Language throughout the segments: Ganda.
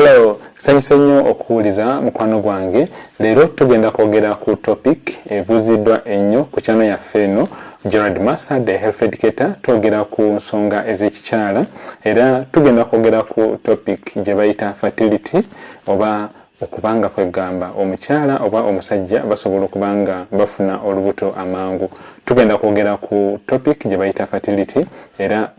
Hello, sanyuse nnyo okuwuliza mukwano gwange. Leero tugenda kwogera ku topic ebuuziddwa ennyo ku kyano yaffe eno Gerald Massa the health educator. Twogera ku nsonga ez'ekikyala era tugenda kwogera ku topic gye bayita fertility oba okubanga kwegamba omukyala oba omusajja basobola okubanga bafuna olubuto amangu tugenda kwogera ku topic gye bayita fertility era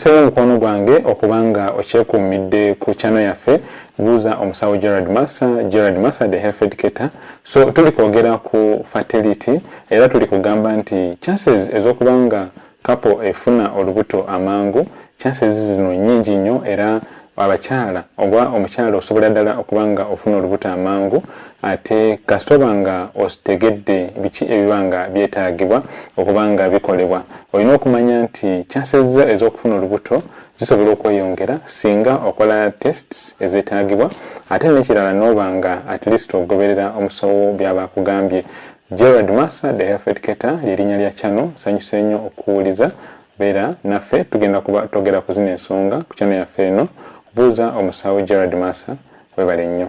nkuseeyo omukwano gwange okuba nga okyekuumidde ku kyano yaffe buuza omusawo gerald massa gerald massa the health educator so tuli kwogera ku fertility era tuli kugamba nti chances ez'okuba nga Kapo efuna olubuto amangu, chances zino nyingi nyo era abakyala oba omukyala osobola dala okuba nga ofuna olubuto amangu ate kasita oba nga otegedde biki ebiba nga byetagibwa okuba nga bikolebwa. Olina okumanya nti chances zo ezokufuna olubuto zisobola okweyongera singa okola tests ezetagibwa ate nekirala noba nga at least ogoberera omusawo byaba akugambye. Gerald Masa the Health Cater lyerinya lya channel nsanyuse nyo okukuwuliza beera naffe tugenda kuba togera kuzina ensonga ku channel yaffe eno buuza omusawo Gerald Masa webale nyo.